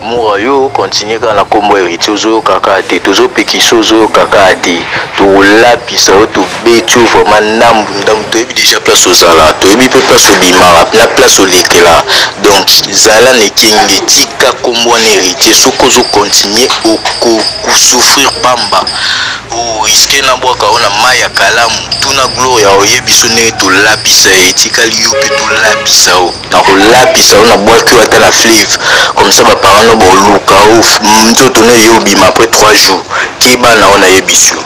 mura yo continue kaka na kombo heritier ozoyoka kaka te tozopekisa ozoyoka kaka te tokolapisa yo tobeti yo vraiment ndambu ndambu toyebi deja place ozala toyebi mpe place obimaka na place olekela donc zala na ekenge tika kombo wana heritier soki ozocontinue okosouffrir pamba oriske na bwaka oyo na mai ya kalamu tuna gloria oyebi so ndenge tolapisa ye etikali yo mpe tolapisa yo Nakolapisa yo na bwaki yo ata na fleuve comme ça ba parents no boluka yo nzoto no eye obima après trois jours keba nao nayebisi yo.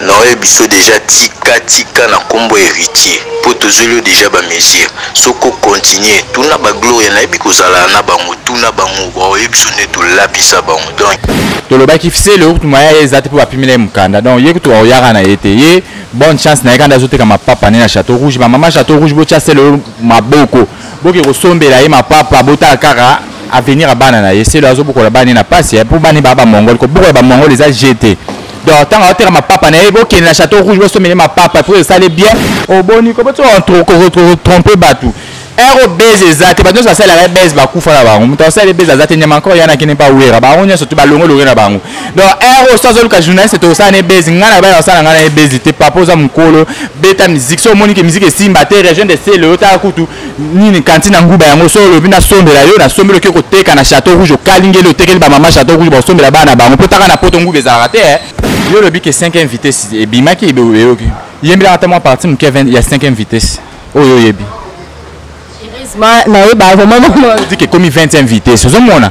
Naoyebisayo dejà tika tika na kombo ya heritier po tozweliyo dejà ba mesure soki o continue tuna ba gloria nayebi kozalala na bango tuna bango baoyebiso nde tolapisa bango donc tolobaki fisele oyo kutu moyen ya ye eza te mpo bapimela ye mokanda donc ye kutu akoyaka na ye te ye bonne chance na ye kanda azoteka mapapa ne na chateau rouge bamama chateau rouge botya sele oyo maboko boke kosombela ye mapapa botala kaka avenir ya bana na ye selo azobokola bana ye na pasi eh, mpo bana ye baa bamongole kobokola bamongole eza jete donc ntango aoteka mapapa na ye bokende na chateau rouge bosombele mapapa mpo esali bien oboni oh, kobotokotrompe bato ero base eza te bato nyonso basalelaka base bakufa na bango moto asala base aza te nyama nkolo yana kende mpa wera bango nyonso te balongolonge na bango donc heure oyo so azoluka journaliste tokosala na ye bezi ngai na baya basala ngai na ye bezi te papa oza mokolo beta miziki so omoni ke miziki esimba te region de sele otala kutu nini kanti na nguba yango so olobi nasombela yo nasombeli oke koteka na chateau rouge okalingeli otekeli bamama chateau rouge bakosombela bana na bango mpo taka na poto nguba ezalaka te eh. yo olobi ke 5 vitesse ebimaki eyoki yembelaka ata mwa parti moke ya 5 vitesse oyo oyebi nayeba vraiment dike ekomi 20 vitesse ozomona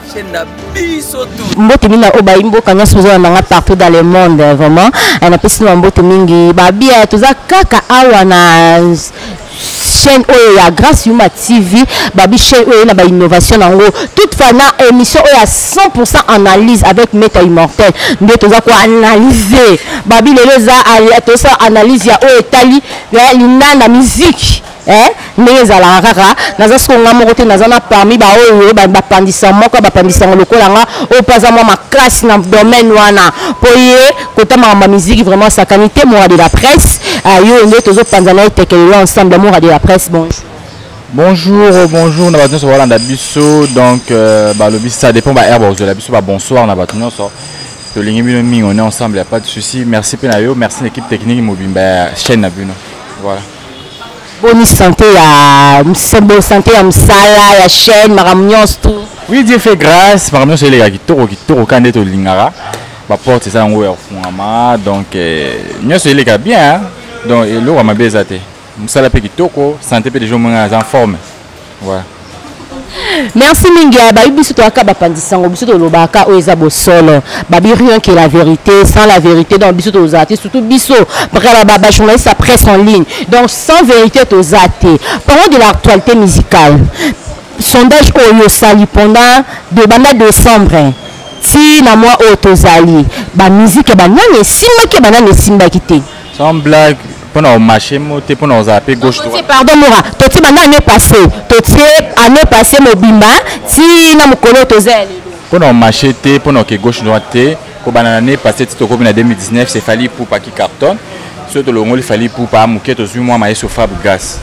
mbote mingi na obayi mboka nyonso ozona nanga partout dans le monde vraiment eh, napesi na mbote mingi babia toza kaka awa na chaîne oyo ya grâce yuma tv babi chaîne oyo na bainnovation na yango toute fois na émission oyo ya 100 analyse avec meta immortel nde toza koanalyse babi lelo eza tosala analyse ya oyo etali ya linganda musique eh ndenge ezalaka kaka naza siko nga moko te naza na parmi baoyo bapandisa moko bapandisa yango lokola nga oyo mpe aza mwa makasi na domaine wana mpo ye kota makambo ya miziki vraiment sakani te mora de la presse ah, yo nde tozopanza na ye tekelelo ensemble mora de la presse bonjour bonjour oh, bonjour na bato nyonso balanda biso donc euh, balobi ça dépend baheure bakozwela biso babonsoir na bato nyonso tolingi bino mingi on est ensemble ya pas de souci merci mpe na yo merci na équipe technique mobimba ya chaîne na bino voilà boni sante ya bo sante ya mosala ya chaîne makambo nyonso tout oui dieu fait grâce makambo nyonso eleka kitoko kitoko kaka nde tolingaka baporte eza yango ya kofungama donc eh, nyonso eleka bien donc eloko ya mabe eza te mosala mpe kitoko sante mpe deja omoi ngai aza forme ouais. merci mingi ya bayebi biso toyaka bapanzi sango biso tolobaka oyo eza bosolo babi rien que la vérité sans la vérité donc biso tozala te surtout biso bajournaliste ya presse en ligne donc sans vérité toza te parlons de l'actualité musicale sondage oyo osali pendant de banda décembre ti na mwa oyo tozali bamiziki ya banani esimbaki ya banani esimbaki te sans blague mpo na komarche mo te mpo na kozala mpe gauche droite pardon mora totie banda année passé totie année passé mobimba ti na mokolo oyo toza ya lelo mpo na komarche te mpo na oke gauche droite te kobanda na année passé ti tokomi na 2019 c'est fali poupa qui cartonne soki tolongoli fali poupa ya moke tozwi mwa mayeso fabregas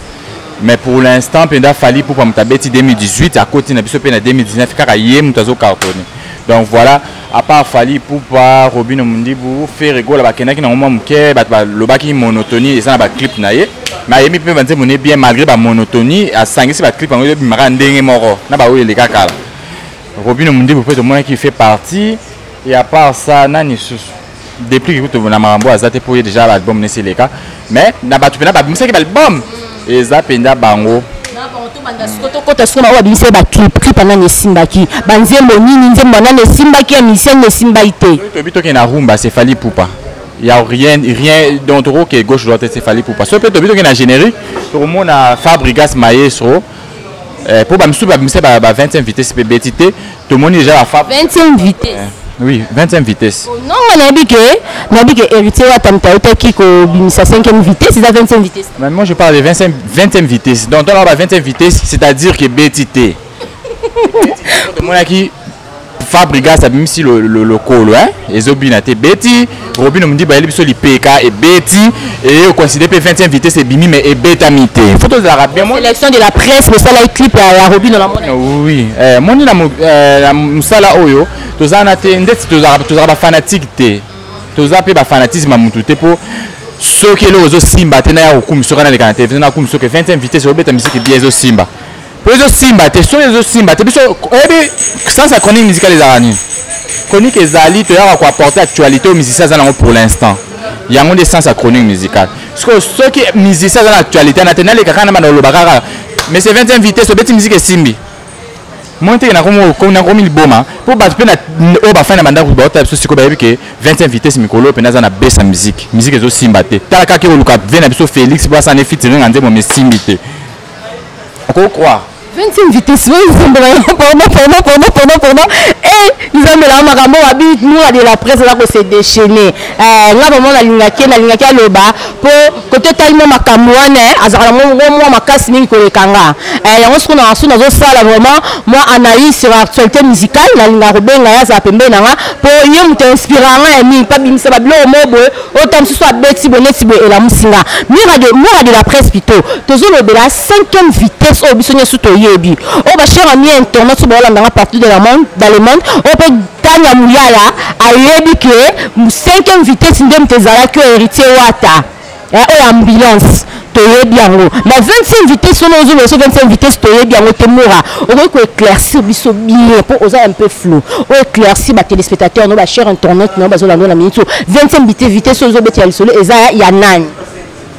mais pour l'instant mpenza fali poupa moto abeti 2018 akoti na biso mpe na 2019 kaka ye moto azocartonne donc voilà à part Fally Poupa, Robino Mundibu, Ferre Gola bakendaki na mwa moke bato balobaki monotonie eza na ba clip na ye mais ayemi mpe ba nzembo ne bien malgré ba monotonie asangisi ba clip yango ebimaka ndenge moko na ba oyo eleka kala Robino Mundibu mpe tomonaki fait partie et à part ça nani susu deplique kutu na makambo aza te mpo ye déjà baalbum nesi eleka mais na bato mpena babimisaki baalbum eza mpenza bango tokota sikoyo oyo babimisaki baclip clip anani esimbaki banzembo nini nzembo anani esimbaki ya misia nini esimbaki te toyebi tokende na rumba sefali pupa ya rien rien donc tokoke gauche droite sefali pupa soki mpe toyebi tokende na générique tokomona fabrigas maestro eh, po bamisusu babimisa ba, ba 20 vitesse mpe beti te tomoni deja bafa 20 vitesse eh. Oui, 25 vitesse. Oh, non, on a dit que, on a dit que héritier a tam taïta qui kobimisa 5e vitesse, c'est à 25 vitesse. Mais moi je parle de 25 20e vitesse. Donc on a 25 vitesse, c'est-à-dire que BTT. Moi qui Fabrigas abimisi lokolo hein ezobina te beti Robino mundi bayeli biso lipeka ebeti et au considère pe 20e vitesse ebimi mais ebetami te photo de la bien sélection de la presse le sala clip ya Robino la mona oui euh moni na euh, musala oyo tozana te ndeti tozara tozara ba fanatique te toza pe ba fanatisme ya mutu te po soki eloko ezosimba te na ya kokumisa oka na leka na televizio na kokumisa oke 20e vitesse obeta misiki bia ezosimba po ezo simba te son ezo simba te biso oyebi sans sa chronique musicale ezalaka nini chronique ezali toyaka koapporte actualité oyo musicien aza nango pour l'instant yango nde sans sa chronique musicale sikoyo soki musicien aza na actualité na te naleka kaka na banda oloba kaka mais c'est 20 vitesse obeti musike esimbi moi te nakomi liboma mpo bato mpe oyo bafani na bandako baota biso sikoyo bayebi ke 25 vitesse mikolo mpenza aza na besa miziki miziki ezosimba te tala kaka ekoluka ve na biso félix mpo asana efitiringa nzembo mesimbi te oko croire 20e vitesse oyo nzembo na yo pona pona pona pona pona e nzambe na makambo wabi mura de la presse aza kose déchaîne eh, nga vraiment nalingaki nalingaki aloba mpo kote otali mwa makambo wana eh, azalaka na mwa mwa makasi mingi koleka nga eh, yango soko na so nazosala vraiment mwa analyse sur actualité musicale nalingaka kobenga ye azala pembeni na nga mpo ye moto inspira nga ya mingi mpo abimisa babiloko moko boye oyo ta mosusu abeti boye neti boye elamusi nga mura de, mura de la presse plutôt tozolobela cinquième vitesse oyo biso nyonso toyebi oyo bachere ami ya internet oyo baolanda nga partout de la monde dans le monde oyo mpe tania muyala ayebi ke cinquième vitesse nde moto ezalaki oyo héritier wata eh, oyo ambulance toyebi yango na 25 vitesse wana ozo loso 25 vitesse toyebi yango te mora okoki ko éclaircir biso bien po oza un peu flou o éclaircir ba téléspectateurs no ba cher internet no bazo lando na minute 25 vitesse vitesse ozo beti ya lisolo eza ya nani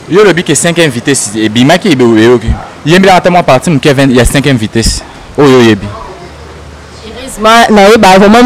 yo lobi ke 5e vitesse ebimaki ebe oyoki yembela ata mwa partie moke ya 5e vitesse oyo oyebi na yeba vraiment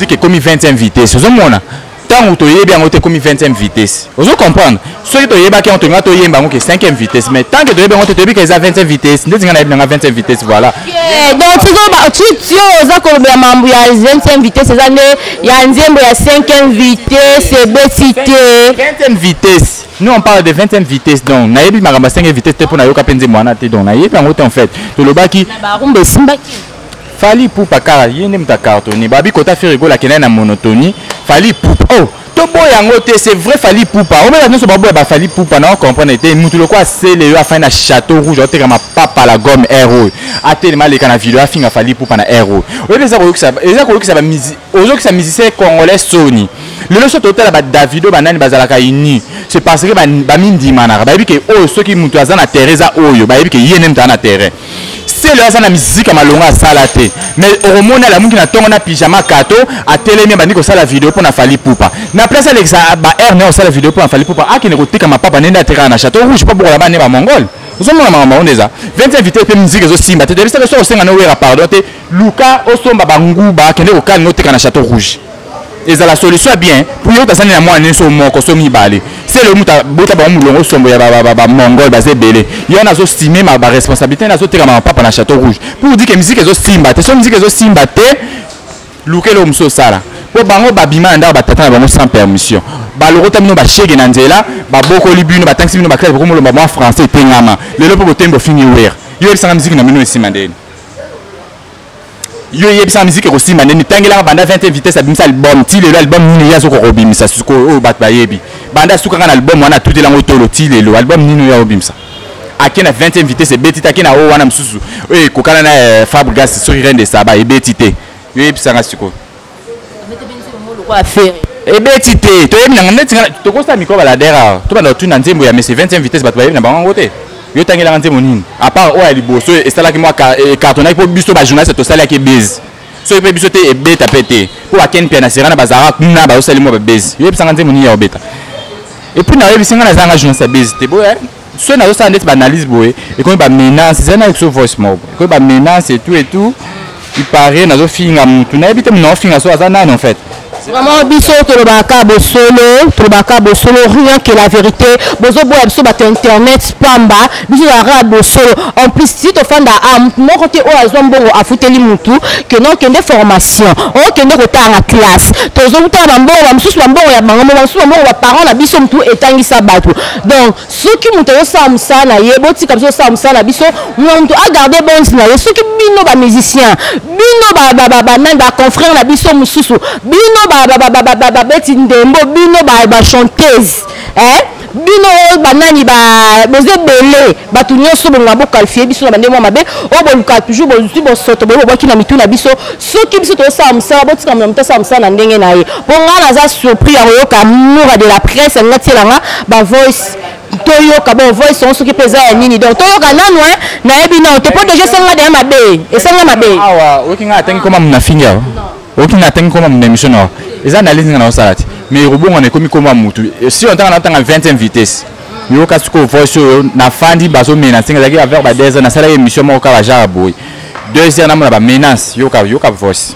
dit que komi 20e vitesse ozo mona ntango toyebi yango te ekomi 20e vitesse ozo comprendre soki toyebaki yango tolinga toyemba yango ke 5e vitesse mais tant que toyebi yango te toyebi ke eza 20e vitesse ndeti ngai nayebi nanga 20e vitesse voilà eh, donc tio oza kolobela mambo ya 20e vitesse eza nde ya nzembo ya 5e vitesse ebeti te 20e vitesse nous on parle de 20e vitesse donc nayebi makambo ya 5e vitesse te mpo nayoka mpe nzembo wana te donc nayebi yango te en fait tolobaki barumba esimbaki Fally Ipupa kaka ye nde moto acartonne babi kota Ferre Gola akendaki na monotonie Fally Ipupa oh toboya yango te c'est vrai Fally Ipupa oyo bato nyonso baboya ba Fally Ipupa na comprendre te moto lokola asele yo afandi na château rouge aoteka mapapa la gomme air oyo atelema aleka na video afinga Fally Ipupa na air oyo oyebi eza koyokisa eza koyokisa ba ozokisa musicien congolais soni lelo so totala ba Davido banani bazalaka unis c'est parce que bamidimanaka bayebi ke oyo soki moto aza na terrain eza oyo bayebi ke ye nde moto aza na terrain selo aza na miziki ya malonga asala te mais okomona alamuki na ntongo na pyjama kato atelemi abandi kosala video mpo na fali pupa na place alekisa baheure naye kosala video mpo na fali pupa akende kotika mapapa nde nde atekaka na chateau rouge mpo bokola bane bamongole ozomona makambo yango nde eza 20 invité mpe miziki ezosimba te tebisaka soki osenga nowera pardon te luka osomba banguba akende kokalinga oteka na chateau rouge ezala solution ya bien pour yo tasani na mwana nso moko so mibale selo mutu abota bango mulongo sombo ya bamongol baza ebele ye wana azostime baresponsabilité nazoteka ma papa na chateau rouge pour dire ke miziki ezosimba te so miziki ezosimba te luka eloko mosusu osala mpo bango babima na ndako batata na bango sans permission balokota bino bashege na nzela babokoli bino batangisi bino baklase bokomolomba mwa français etengama lelo mpo botembo fingi wer yo yebisanga miziki na bino esima ndeni yo yebisa miziki ekosimba nde mitangelaka banda 20 vitesse abimisa album ti lelo album nini ye azokoka kobimisa sikoyo oyo bato bayebi banda asukaka na album wana atuteli yango tolo ti lelo album nini oyo akobimisa ake na 20 vitesse ebeti te ake na oyo wana mosusu oyo ekokana na eh, fabrigas soki rende saba ebeti te yo yebisanga sikoyo ebeti te toyebi nanga ndeti nga tokosala mikro baladera tobanda kotuna nzembo ya mesi 20 vitesse bato bayebi na bango yango te yo otangelaka nzembo nini apart oyo ya liboso esalaki mwa ecartonaki mpo biso bajournaliste tosalaki ebezi soki mpe biso te ebeta mpe te mpo bakeni mpe na serana bazalaka kuna bazosali mwa babezi yo yebisanga nzembo nini ya obeta epuis nayebisi ngai nazanga journaliste ya bezi te boya soki nazosala ndeti baanalyse boye ekomi bamenance ezali na exo voice moko ekomi bamenance etout etout ipare nazofinga motu nayebi te mona ofinga so aza nani en fait vraiment biso tolobaka bosolo tolobaka bosolo rien que la vérité bozoboya biso bato internet pamba biso tozalaka bosolo en plus si tofanda a ah, motu moko te oyo azwa mbongo afuteli motu kende okende formation okende kotala na classe tozokutana bambongo bamosusu bambongo ya bango mo bamosusu bambongo baparent na biso motu etangisa bato donc soki moto azosala mosala na ye botika biso osala mosala na biso moto agarde bonse na ye soki bino bamusicien bino banani baconfrère na biso mosusu bino babeti ndembo bino bachanteuse eh? bino oyo banani boza ebele bato nyonso bongo bokalifie biso na bandenge mwa mabe oyo bolukaka toujours bozwi bosoto boye bobwaki na mitu na biso soki biso tozosala mosala botika moto asala mosala na ndenge na ye mpo ngai naza surpris ya koyoka mura de la presse alingi atiela nga bavoice toyoka bon voice yango soki mpe eza ya nini donc toyoka nanu e nayebi nao te mpo deja esenga deya mabe esenga mabe awa oyoki ngai atangi koma mona fingi awa oyoki ngai atangi koma mona émission na awa eza analyse nga na osala te mais ekobongwana ekomi koma motu si ontanga na otanga 20e vitesse yoka sikoyo voice oyo nafandi bazo menase ezalaki avers ba deux ans nasalaki émission moko kaka genre boye deux heures namona ba menace yoka yoka voice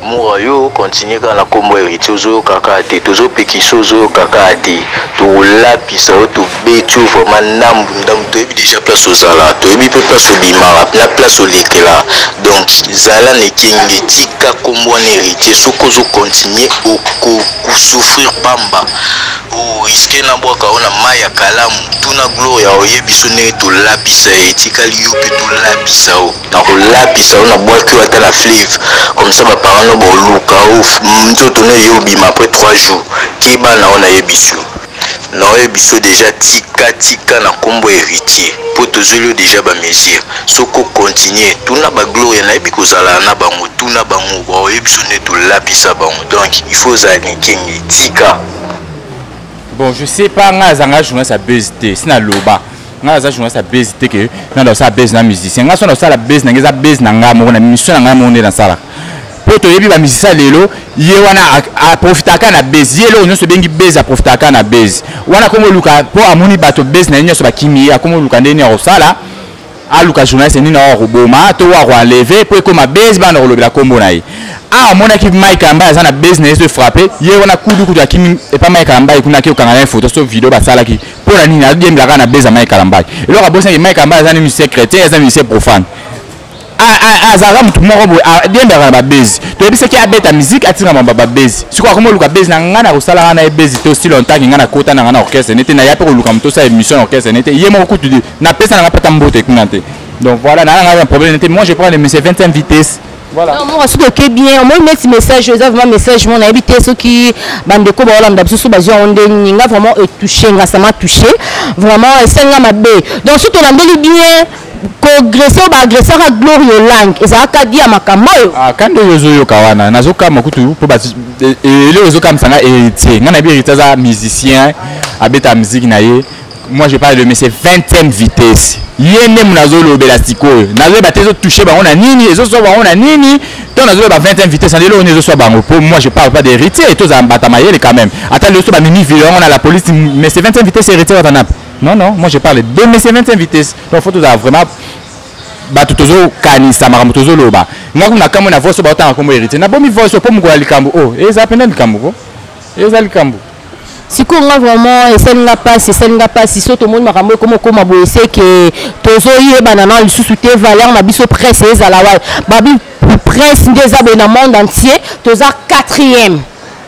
mura yo continue kaka na nkombo ya héritier ozoyoka kaka te tozopekisa ozoyoka kaka te tokolapisa yo tobeti yo vraiment ndambu ndambu toyebi déjà place ozala toyebi mpe place obimaka na place olekela donc zala na ekenge tika nkombo wana héritier soki ozocontinue okosouffrir pamba O risque na bwaka yo na mayi ya kalamu. Tuna Gloria oyebiso ndenge to lapisa ye. Etikali yo pe to lapisa yo. Nako lapisa yo na bwaki yo ata na fleuve. Comme ça ba parents no bo luka yo nzoto no eye obima après trois jours. Keba na yo na yebisi yo. Nao yebiso dejà tika tika na kombo ya heritier. Po tozweli yo dejà ba mesures. Soki o continuer. Tuna ba Gloria na yebi ko zalana na bango. Tuna bango ba oyebiso ndenge to lapisa bango. Donc il faut ozala kinkengi. Tika. bon je sais pas ngai aza ngai journaliste ya buzz te si naloba ngai aza journaliste ya buzz te ke ngai nasala buzz na musicien ngai so nasala buzz na ngai eza buzz na ngai moko na mission na ngai moko nde nasalaka mpo toyebi bamusicien lelo ye wana aprofitaka na buzz ye eloko nyonso ebengi buzz aprofitaka na buzz wana akomi oluka mpo amoni bato buzz na ye nyonso bakimi ye akomi oluka ndenge nini akosala aluka journaliste nini oyo akoboma to oyo akoenleve mpo ekoma base bana kolobela nkombo na ye awa amonaki mike kalambai aza na base na ye so efrappe ye wana kudu kudu akimi epa mike kalambai kuna ake kokanga na ye foto so video basalaki mpo na nini ayembela kaka na base ya mike kalambai eloko abosanaki mike kalambai aza nini secrétaire aza nini se profane azalaka motu moko boye ayembelaka na babezi toyebisaki abeta miziki atika mamba babezi sikoyo akoma oluka bezi na ngai na kosala ngai na ye bezi to si longtemps ke ngai nakota na ngai na orchestre nete na ya mpe koluka motu osala émission na orchestre nete ye moko kutu Na pesa na pata mbote kuna te. Donc voilà, na na problème te. Moi je prends le monsieur 25 vitesse. Voilà. Non, moi soki oke bien, moi mettre message, eza vraiment message mon ayebi te soki bande ko ba olanda biso ba zwa onde ninga vraiment e touché nga ça m'a touché. Vraiment esenga mabe. Donc soki olandeli bien koagrese oyo baagresaka glory olange ezalaka dia makambo oyo ah, kandi oyo ozoyoka wana nazokama kutu mpo eleo ezokamisa nga héritier nga nayebi héritier aza musicien abeta miziki na ye moi je parle de monsieur 20e vitesse ye nde nazolobela sikoyo nazoyeba te ezotouche bango na nini ezoswa bango na nini to nazoloba 20e vitesse na lelo oyo ezoswa bango po moi je parle pas de héritier tozala mbata mayele quand même ata lelo so bamemi vilo yango na la police monsieur 20e vitesse héritier watanape non non moi je parle de monsieur 20e vitesse donc faut tozala vraiment bato tozokanisa makambo tozoloba ngai kuna kamwe na voice oyo baotanga nkombo héritier nabomi voice oyo mpo mokolo ya likambo oyo oh, eza mpena likambo ko eza likambo sikoyo nga vraiment esali nga mpasi esali nga mpasi so tomoni makambo ekoma okoma boye seke tozoyebana na lisusu te valeur na biso presse ezala wapi babi presse nde eza boye na monde entier toza quatrième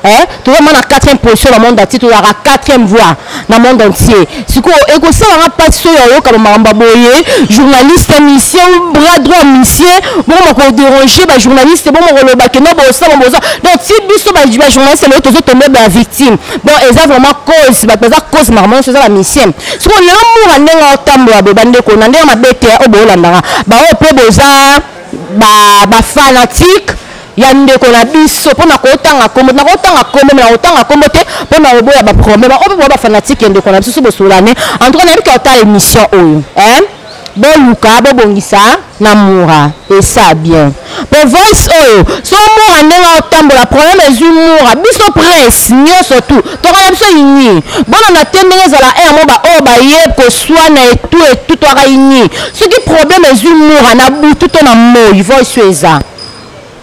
eh? toza ma na quatrième position na monde entier tozalaka quatrième voix na monde entier sikoyo ekosala nga mpasi soki ayoka bamakambo ya boye journaliste mission bras droit misie bongo bakoderange bajournaliste bongo koloba kenda bosama boza donc ti biso bajournaliste lelo tozotombe bavictime donc eza vraiment cause bato baza cause makambo nyonso eza bamisie sikoyo lelo mura ndenge otambola boye bandeko na ndenge mabe te oyo boyolandaka baoyo mpe boza bafanatique ba ya ndeko na biso mpo na kotanga kombo na kotanga kombo me na kotanga kombo te mpo na koboya baproblème oyo mpe bafanatike ya ndeko na biso so bosolane en tout cas nayebi kotala émission oyo eh? boluka bobongisa na mura esa bien mpo voice oyo so mura ndenge otambola problème ezwi mura biso prince nyonso tu tokana biso ini bolanda te ndenge ezala e yango baoyo baye koswana etu etu toaka ini soki problème ezwi mura na butu to na moi voice oyo eza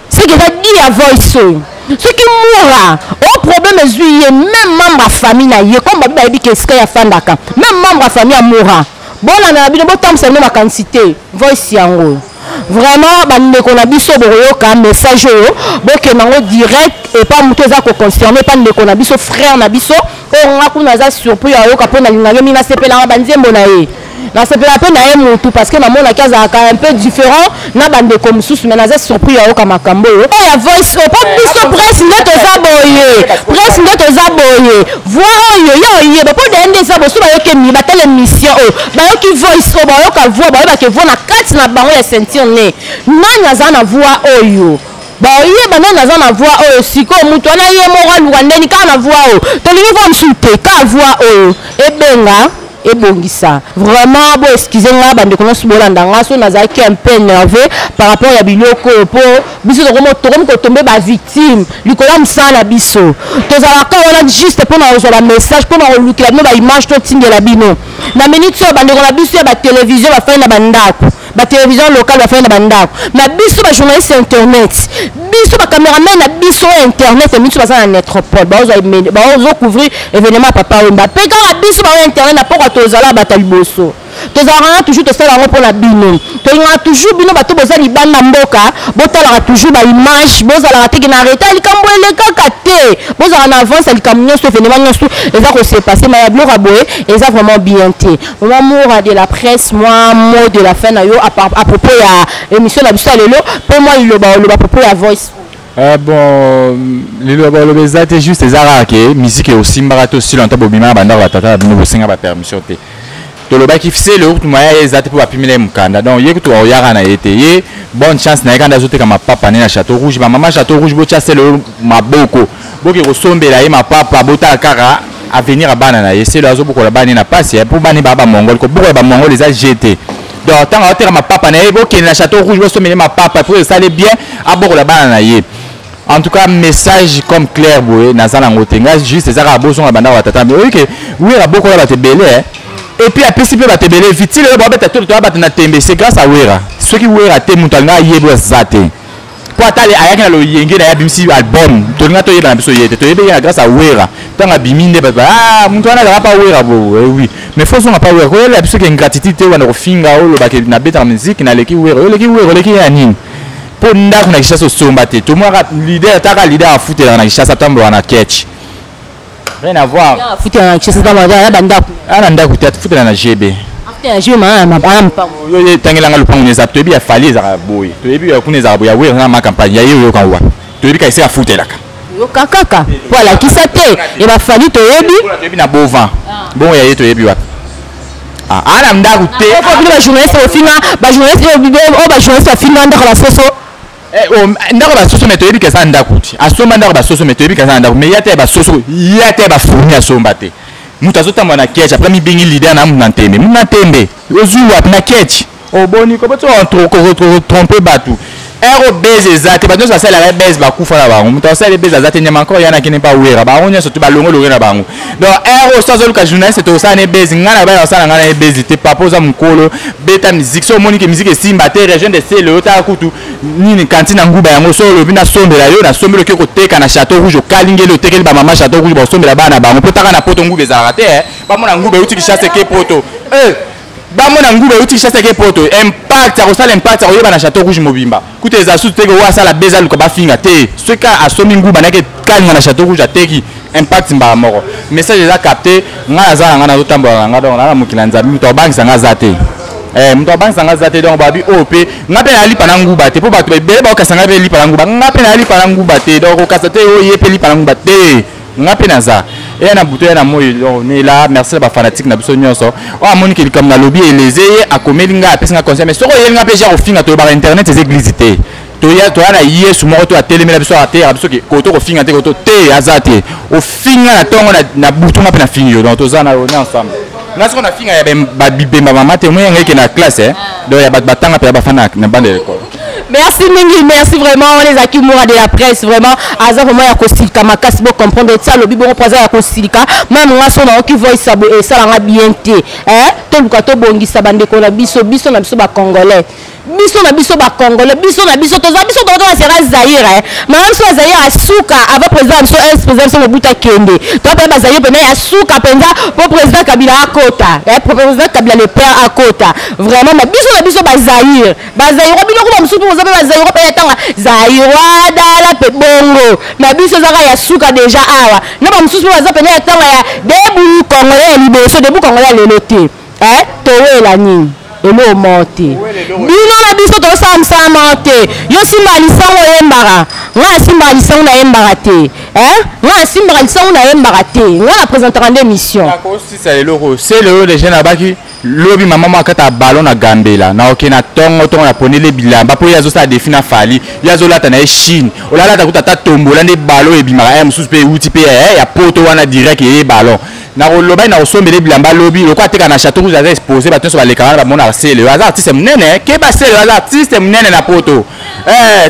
soki eza di ya voice oyo soki mura o problème ezwi ye même membre ya famille na ye comme babi bayebi ke esika ye afandaka même membre ya famille ya mura bolanda na bino botambwisa bino makanisi te voice yango oyo vraiment bandeko na biso bokoyoka message oyo bokenda yango direct epa moto eza koconcerne epa ndeko na biso frère na biso oyo nga kuna aza surpris ayoka mpo nalingaki mingi nasepelanga banzembo na ye nasepela mpe na ye mutu parce que namonaki azalaka un peu différent na bandeko mosusu mais naza surpris ya yoka makambo oyo oyo ya voice oyo mpo biso presse nde toza boye presse nde toza boye voi oyo ye oyeba mpo deye nde eza boso bayoki emi batala émission oyo bayoki voice oyo bayoka voi bayebake voi na kati na bango ya ceinture ne nani aza na voi oyo boyeba nani aza na voi oyo sikoyo moto wana ye moko aluka ndeni kaka na voi oyo tolingi voi mosusu te kaka voi oyo ebenga ebongisa vraiment bo excuse nga bandeko nyonso bolanda nga so nazalaki un peu nerveux par rapport ya biloko oyo mpo biso tokomi kotombe bavictime likolo ya mosala na biso tozalaka wana juste mpo na kozwa bamessage mpo na kolukela bino baimage totindela bino na minute oyo bandeko na biso ya batelevizio bafai na bandako ba télévision locale bafai na bandako na biso ba journaliste ya internet biso ba cameraman na biso ya internet ya biso baza na netropole baozocouvrir événement ya papa wemba mpe kaka biso bao ya internet na mpoka tozala bato ya liboso tozalaka na toujours tosala yango mpo na bino tolingaka toujours bino bato boza libanda mboka botalaka toujours baimage bozalaka teke na reta likambo elekaka te bozalaka na avance ya likambo nyonso événement nyonso eza kose passe ma ya biloko ya boye eza vraiment bien te Maman Moura de la presse, moi, mot de la fin, na yo, à, par- à propos ya émission na biso ya lelo, pe moi liloba oloba à propos ya voice. Ah bon, liloba oloba eza te juste eza kaka ke miziki osimbaka to sila nta bobimaka bandako batata na bino bosenga bapermission te tolobaki fisele okutu maya ye eza te mpo bapimela ye mokanda donc ye kutu aoyaka na ye te ye bonne chance na ye kanda azoteka mapapa ne na chateau rouge bamama chateau rouge botya sele oyo maboko boke kosombela ye mapapa botala kaka avenir ya bana na ye selo azobukola bana na pasi mpo bana ba bamongole kobukola bamongole eza je te donc ntango aoteka mapapa na ye bokende na chateau rouge bosombela ye mapapa mpo esali bien abokola bana na ye en tout cas message comme clair boye naza nango te ngai juste eza kaka bozonga bandako batata oyebi ke wer abokola bato ebele et puis apesi mpe bato ebele vitile oyo babeta tolo toya bato na tembe c'est grâce à wera soki wera te moto alinga ayebwa eza te mpo ata ayaki na loyenge na ye abimisi album tolinga toyeba na biso ye te toyebi ye na grâce ya wera ntango abimi nde bato ah, moto wana azalaka pa wera bo eh oui mais fo ozonga pa wera koyelela biso ke ingratitude te wana kofinga olobaka nabetaka miziki naleki wera oleki wera oleki ye ya nini mpo ndako na kishasa osomba te tomonaka lider taka lider afutelaka na kishasa atambolaka na ketch rien à voir Ya, futa na chez ba ba ba ndako ana ndako te atufutela na gb afute na jeu ma ma ba mpa yo ye tangela nga lopango neza toyebi ya fali ezalaka boye toyebi ya kuna ezalaka boye ya wera nga ma campagne ya ye oyoka wa toyebi ka esika afutelaka yoka kaka po alakisa te e ba fali toyebi Oyo toyebi na bovan bongo ya ye toyebi wapi Ah, ana ndako te po bino ba journaliste bofinga ba journaliste oyo ba journaliste bafinga ndako na soso Eh, oh, ndako basoso me toyebi keza ndako ti asomba ndako basoso me toyebi keza ndako me ya te basoso ya te bafurmi asomba te moto azotambola na ketch apres mibengi lider na muna ntembe muna ntembe ozwi wapi na ketch oboni koboti trompe bato ero base eza te bato nyonso basalelaka base bakufa na bango moto asali base aza te nyama nkoro yana kende mpa wera bango nyonso te balongolonge na bango donc heure oyo so azoluka journaliste tokosala na ebezi ngai na baya basala ngai na ebezi te papa oza mokolo beta miziki so omoni ke miziki esimba te region de sele otala kutu nini kanti na nguba yango so olobi nasombela yo nasombeli oke koteka na chateau rouge okalingeli otekeli bamama chateau rouge baosombela bana bango mpo taka na poto nguba ezalaka te eh. bamona nguba euti kishasa eke poto eh. bango na nguba euti kinshasa eke poto impact akosala impact akoyeba na chateau rouge mobimba kuta eza susu teke oyo asala beza aluka bafinga te soki kaka asombi nguba nake kalinga na chateau rouge ateki impact mbala moko message eza capte ngai naza na ngai nazotambola na ngai donc naa na mokili ya nzambe moto abangisa ngai aza te eh, moto abangisa ngai aza te donc babi oyo oh, mpe ngai mpe nayalipa na nguba te mpo bato ebele bakokasa ngai mpe lipa na nguba ngai mpe nayalipa na nguba te donc okasa te oyo oh, ye mpe lipa na nguba te nga mpe naza eya na butu eya na moi nela merci na bafanatike na biso nyonso oyo oh, amoni ke likambo nalobi eleze ye akomeli ngai apesi ngai conseil mais soki oyeli ngai mpe ja kofinga tolobaka internet eza eglise te toya toya na yesu moko to atelemela biso ateyaka biso ke koto kofinga te koto te aza te ofinga na ntongo na butu nga mpe nafingi yo donc toza na yo na ensemble nga soko nafinga ya babibemba mama te moyanga eke na classe eh? donc ya bato batanga mpe ya bafana na banda ya ekolo merci mingi merci vraiment wana ezalaki mura de la presse vraiment aza vraiment ya kosilika makasi bocomprendre ti alobi bongo mpo aza ya kosilika mame nga so naoki voice ya boye esala nga bien te eh? toluka tobongisa bandeko na biso biso na biso bacongolais biso na biso bacongolais biso na biso toza biso toza na sera zaire eh? mama biso ya zaire asuka avant président ya biso es eh, président biso mobutu akende toa mpenza bazaire mpena ya suka mpenza mpo président kabila akota eh? président kabila le père akota vraiment ma biso na biso bazaire bazairwa bino kuba mosusu mpe boza mpe bazairwa mpe yatanga zairwa dala mpe bongo na biso ezaka ya suka deja awa na bamosusu mpe baza mpena yatanga ya debu kongola ya liboso debu kongola ya lelo te eh, towela nini eloo moko te bino na biso tozosala mosala moko te yo simbaka lisango oyembaka ngai asimbaka lisango nayembaka te eh? ngai asimbaka lisango nayembaka te ngai na présentaka nde émission lobi mama mwa akata ballon na gambela na oke na tongo tongo na ponele bilamba mpo ye azosala defi na fali ye azolata na ye chine olalata kuta ata tombola nde ballon ebimaka ya eh, mosusu mpe euti mpe eh, ya poto wana direct eye ballon nakoloba nakosombele bilamba lobi lokola ateka na chateau rouge aza expose bato nyonso balekaka wana bamonaka sele aza artiste monene eh. keba sele aza artiste monene na poto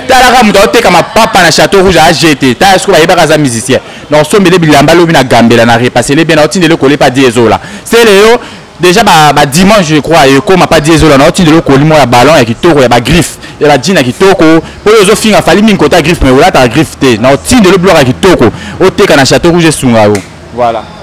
talaka moto aoteka mapapa na chateau rouge aajete tala soko bayebaka aza musicien na osombele bilamba lobi na gambela na repasele bien na otindele kole pa diezola sele yo déjà ba, ba dimanche je crois ekoma pa diezola na otindele okoli moko ya ballon ya kitoko ya bagriffe ya bajina kitoko mpo oyo ozofinga fali mingi kota griffe mai olataka griffe te na otindele biloko ya kitoko oteka na chateau rouge esunga yo voilà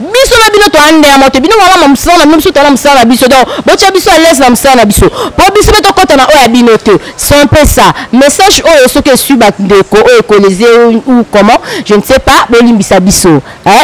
biso na bino toya ndenge moko te bino wana na mosala na bino biso toya na mosala na biso donc botya biso à l'aise na mosala na biso mpo biso mpe tokɔta na oyo ya bino te son mpe ça message oyo soki esui bandeko oyo ekoleze ou comment je ne sais pas bolimbisa biso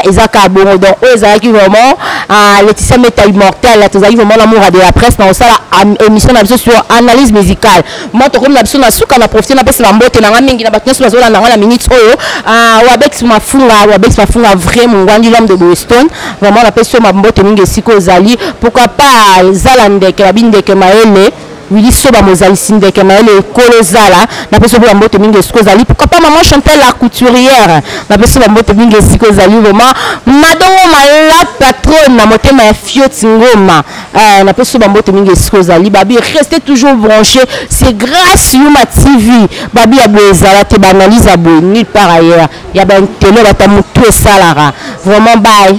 eza kaka bongo donc oyo ezalaki vraiment ah, leticia meta immortel tozalaki vraiment na moura de la presse na kosala émission na biso sur analyse musicale Moi tokomi na biso na suka na profite na pesa ba mbote na nga mingi na bato nyonso bazolanda nga na minute oyo ah, wabex mafunga wabex mafunga vrai mongwandi l'homme de boston vraiment napesi yo mambote mingi esika ozali pourquoi pas zala ndeke babi ndeke mayele wili soba mozalisi ndeke mayele ekolo zala napesi yo mpe bambote mingi esika ozali pourquoi pas maman chantel la couturière napesi yo bambote mingi esika ozali vraiment madongo malapa trone na motema ya fioti ngoma Ah, na peso ba mbote mingi esiko ezali babi restez toujours branché c'est grâce yuma tv babi ya boye ezala te baanalyse ya boye nulle part ailleurs ya baintelo bata motu esalaka vraiment bye